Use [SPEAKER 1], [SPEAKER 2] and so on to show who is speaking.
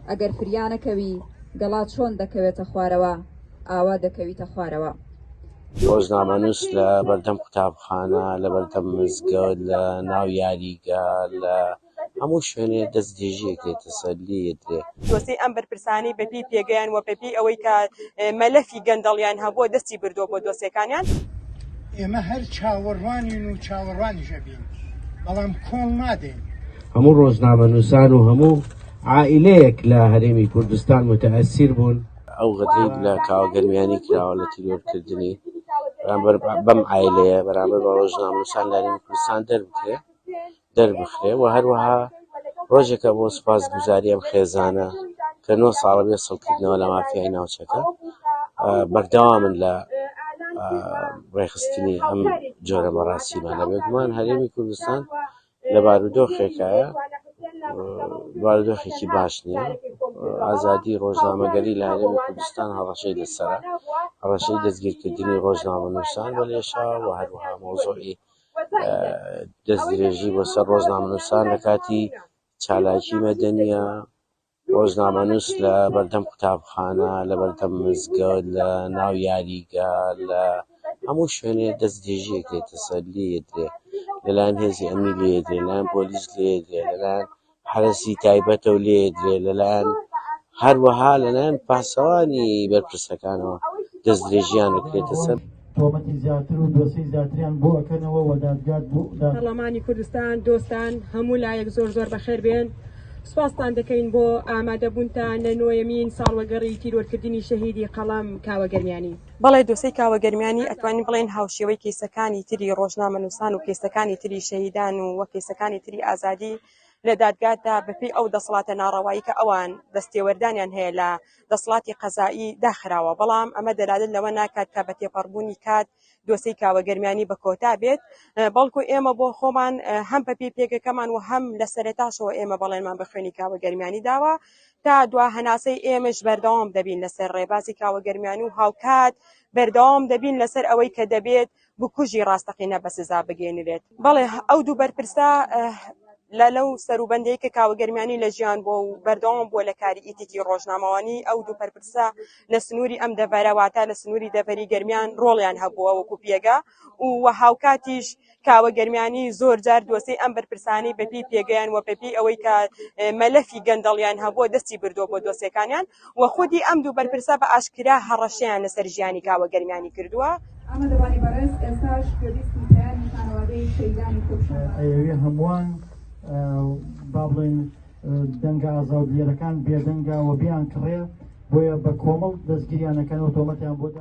[SPEAKER 1] ئەگەر فریا نەکەوی گەڵا چۆن دەکەوێتە خوارەوە ئاوا دەکەویتە خوارەوە. ڕۆژنامەنووس
[SPEAKER 2] لە بەردەم قوتابخانە لە بەردەم مزگەوت لە ناو یاریگا لە هەموو شوێنێ دەست درێژیەک لێ تەسەلی یەدرێ. جۆسەی ئەم بەرپرسانەی
[SPEAKER 3] بەپێی پێگەیان و بەپێی ئەوەی کە مەلەفی گەندەڵیان هەبووە دەستی بردووە بۆ دۆسێکانیان. ئێمە
[SPEAKER 4] هەر چاوەڕوانین و چاوەڕوانیش ئەبین بەڵام کۆڵ نادەین. هەموو
[SPEAKER 5] ڕۆژنامەنووسان و هەموو عائیلەیەک لە هەرێمی کوردستان موتەئەسیر بوون. ئەو غەدرەی لە
[SPEAKER 2] کاوە گەرمیانی کراوە لە تیرۆرکردنی بەرامبەر بەم عائیلەیە بەرامبەر بە ڕۆژنامەنووسان لە هەرێمی کوردستان دەربکرێ. دەربخرێ و هەروەها ڕۆژێکە بۆ سوپاس گوزاری ئەم خێزانە کە نۆ ساڵە بێ سڵکردنەوە لە مافیای ناوچەکە بەردەوامن لە ڕێخستنی ئەم جۆرە مەڕاسیمانە بێگومان هەرێمی کوردستان لە بارودۆخێکایە بارودۆخێکی باش نییە ئازادی ڕۆژنامەگەری لە هەرێمی کوردستان هەڕەشەی لەسەر هەڕەشەی دەستگیرکردنی ڕۆژنامە نووسان بە لێشا و هەروها مۆزۆی دەستدرێژی بۆ سەر ڕۆژنامەنووسان لە کاتی چالاکی مەدەنیە ڕۆژنامەنووس لە بەردەم قوتابخانە لە بەردەم مزگەوت لە ناو یاریگە لە هەموو شوێنێ دەستدرێژیەکرێتە سەر لێدرێ لەلایەن هێزی ئەمنی لێدرێ لەلایەن پۆلیس لێدرێ لەلایەن حەرەسی تایبەتە و لێدرێ لەلایەن هەروەها لەلایەن پاسەوانی بەرپرسەکانەوە دەستدرێژییان دەکرێتە سەر. تۆمەتی زیاتر
[SPEAKER 6] و دۆسێی زیاتریان بۆ ئەکەنەوە و دادگا دا. پەڕڵەمانی کوردستان
[SPEAKER 3] دۆستان هەموو لایەک زۆر زۆر بەخێر بێن سوپاستان دەکەین بۆ ئامادەبوونتان لە نۆیەمین ساڵوەگەڕی تیرۆرکردنی شەهیدی قەڵەم کاوە گەرمیانی. بەڵێ دۆسێی کاوە گەرمیانی ئەتوانین بڵێین هاوشێوەی کەیسەکانی تری ڕۆژنامەنووسان و کەیسەکانی تری شەهیدان و و کەیسەکانی تری ئازادی لە دادگادا بەپێی ئەو دەسڵاتە ناڕەوایی کە ئەوان دەستێوەردانیان هەیە لە دەسڵاتی قەزائی داخراوە بەڵام ئەمە دەلالت لەوە ناکات کە بە تێپەڕبوونی کات دۆسێی کاوە گەرمیانی بە کۆتا بێت بەڵکو ئێمە بۆ خۆمان هەم بەپێی پێگەکەمان و هەم لە سەرێتاشەوە ئێمە بەڵێنمان بە خوێنی کاوە گەرمیانی داوە تا دوا هەناسەی ئێمەش بەردەوام دەبین لەسەر ڕێبازی کاوە گەرمیان و هاوکات بەردەوام دەبین لەسەر ئەوەی کە دەبێت بکوژی ڕاستەقینە بە سزا بگەێنرێت بەڵێ ئەو دوو بەرپرسە لە لەو سەروبندەی کە کاوە گەرمیانی لە ژیان بۆ و بەردەوام بووە لە کاری ئیتیکی ڕۆژنامەوانی ئەو دوو پەرپرسە لە سنووری ئەم دەڤەرەواتە لە سنووری دەڤەری گەرمیان ڕۆڵیان هەبووە وەکو پێگە و هاوکاتیش کاوە گەرمیانی زۆر جار دۆسێی ئەم بەرپرسانەی بەپێی پێگەیان و بەپێی ئەوەی کە مەلەفی گەندەڵیان هەبووە دەستی بردووە بۆ دۆسێکانیان و خودی ئەم دوو بەرپرسە بە ئاشکرا هەڕەشەیان لەسەر ژیانی کاوە گەرمیانی کردووە. ئامادەبانی بەڕێز
[SPEAKER 1] ئێستاش گوێبیستی پەیامی خانەوادەی شەیدانی کوردستانە. ئەیەوێ هەمووان
[SPEAKER 6] با بڵێین دەنگە ئازاو دیەرەکان بێدەنگە و بیانکڕێ بۆیە بە کۆمەڵ دەستگیریان ئەکەن و تۆمەتیان بۆ